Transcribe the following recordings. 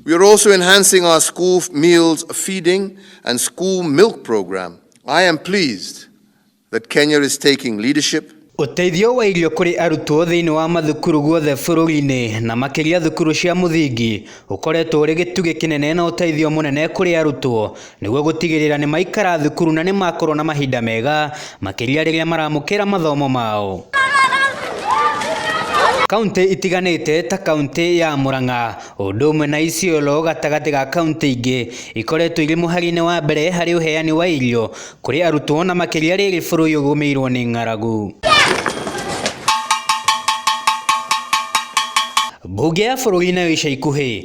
We are also enhancing our school meals feeding and school milk program. I am pleased that Kenya is taking leadership Ũteithio wa irio kũrĩ arutwo thĩinĩ wa mathukuru guothe bũrũri-inĩ na makĩria thukuru cia mũthingi ũkoretwo ũrĩ gĩtugĩ kĩnene na ũteithio mũnene kũrĩ arutwo nĩguo gũtigĩrĩra nĩ maikara thukuru na nĩ makorwo na mahinda mega makĩria rĩrĩa maramũkĩra mathomo mao. Kauntĩ itiganĩte ta kauntĩ ya Murang'a ũndũ ũmwe na Isiolo gatagatĩ ga kauntĩ ingĩ ikoretwo irĩ mũhari-inĩ wa mbere harĩ ũheani wa irio kũrĩ arutwo na makĩria rĩrĩ bũrũri ũgũmĩirwo nĩ ng'aragu. Mbunge ya bũrũri nayo ica ikuhĩ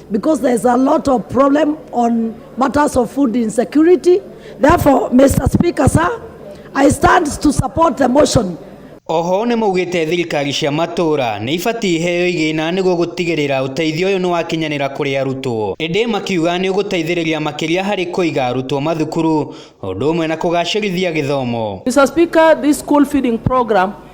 Because there's a lot of problem on matters of food insecurity. Therefore, Mr. Speaker, sir, I stand to support the motion. Oho nĩ maugĩte thirikari cia matũra nĩ ibatiĩ iheo igĩna nĩguo gũtigĩrĩra ũteithio ũyũ nĩ wakinyanĩra kũrĩ arutwo. Ĩndĩ makiuga nĩ ũgũteithĩrĩria makĩria harĩ kũiga arutwo mathukuru ũndũ ũmwe na kũgacĩrithia gĩthomo. Mr. Speaker, this school feeding program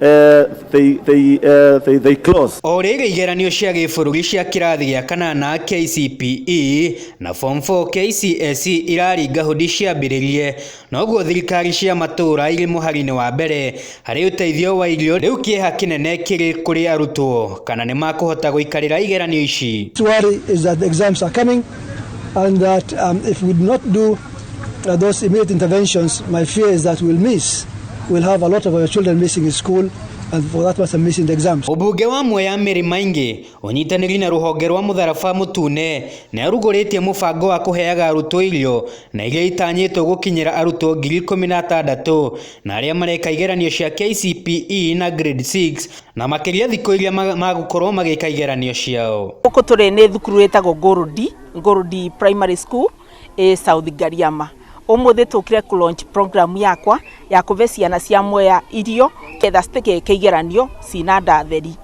uh, they, they, uh, they, they close. O rĩrĩ igeranio cia gĩbũrũri cia kĩrathi gĩa kanana KCPE na form 4 KCSE iraringa hũndi ciambĩrĩrie, noguo thirikari cia matũũra irĩ mũhari-inĩ wa mbere harĩ ũteithio wa irio, rĩu kĩeha kĩnene kĩrĩ kũrĩ arutwo kana nĩ makũhota gũikarĩra igeranio ici. worry is that the exams are coming and that um, if we do not do Now, those immediate interventions, my fear is that we'll miss. We'll have a lot of our children missing in school, and for that matter, missing the exams. Ũmbunge wa Mwea Mary Maingi ũnyitanĩri na rũhonge rwa mũtharaba mũtune nĩarugũrĩtie mũbango wa kũheaga arutwo irio na iria itanyĩtwo gũkinyĩra arutwo ngiri ikũmi na atandatũ na arĩa mareka igeranio cia KCPE na grade 6 na makĩria thikũ iria ma- magũkorwo magĩka igeranio ciao. Gũkũ tũrĩ nĩ thukuru ĩtagwo Ngũrũndi, Ngũrũndi Primary School. ĩ South Ngariama. Ũmũthĩ tũkire kũ launch program yakwa ya kũve ciana cia Mwea irio ketha citikeke igeranio cina nda theri.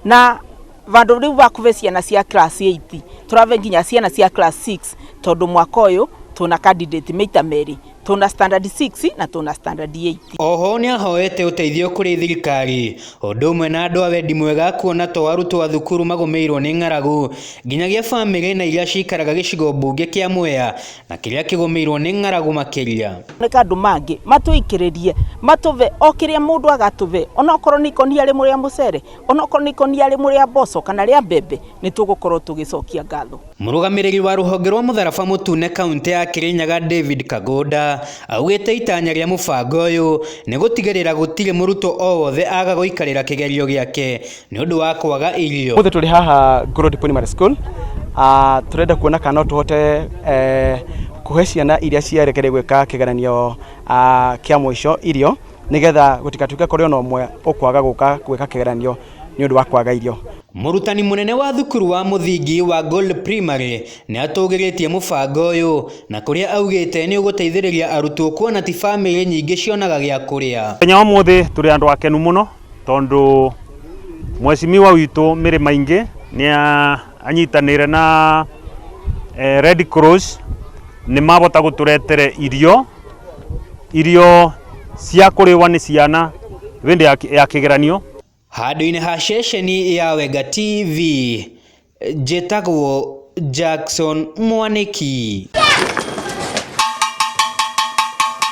Na vandũ rĩu va kũve ciana cia class eight, tũrave nginya ciana cia class six tondũ mwaka ũyũ twĩna candidate maita merĩ. tũna standard 6 na tũna standard 8. Oho nĩahoete ũteithio kũrĩ thirikari ũndũ ũmwe na andũ a wendi mwega kuona to arutwo a thukuru magũmĩirwo nĩ ng'aragu nginyagia bamĩrĩ na iria cikaraga gĩcigo mbunge kĩa Mwea na kĩrĩa kĩgũmĩirwo nĩ ng'aragu makĩria. Nĩka andũ mangĩ matũikĩrĩrie matũve o kĩrĩa mũndũ agatũve onokorwo nĩ ikũnia rĩmwe rĩa mũcere, onokorwo nĩ ikũnia rĩmwe rĩa mboco kana rĩa mbembe nĩtũgũkorwo tũgĩcokia ngatho. Mũrũgamĩrĩri wa rũhonge rwa mũtharaba mũtune kauntĩ ya Kirinyaga David Kagunda augĩte itanya rĩa mũbango ũyũ nĩ gũtigĩrĩra gũtirĩ mũrutwo o wothe aga gũikarĩra kĩgerio gĩake nĩ ũndũ wa kwaga irio. Ũmũthĩ tũrĩ haha Ngoroti Primary School, ah, tũrenda kuona kana no tũhote eh, kũhe ciana iria ciarekereire gwĩka kĩgeranio ah, kĩa mũico irio nĩgetha gũtigatuĩke kũrĩ ona ũmwe ũkwaga gũka gwĩka kĩgeranio. nĩ ũndũ wa kwaga irio. Mũrutani mũnene wa thukuru wa mũthingi wa Gold Primary nĩ atũgĩrĩtie mũbango ũyũ na kũrĩa augĩte nĩ ũgũteithĩrĩria arutwo kuona ti famĩlĩ nyingĩ cionaga gĩa kũrĩa. Mũthenya wa ũmũthĩ tũrĩ andũ akenu mũno tondũ mwecimiwa witũ Mĩrĩ Maingĩ nĩ anyitanĩire na Red Cross nĩ mabota gũtũretere irio. Irio cia kũrĩwa nĩ ciana hĩndĩ ya, ya kĩgeranio. Handũ-inĩ ha ceceni ya Wenga TV, njĩtagwo Jackson Mwanĩki.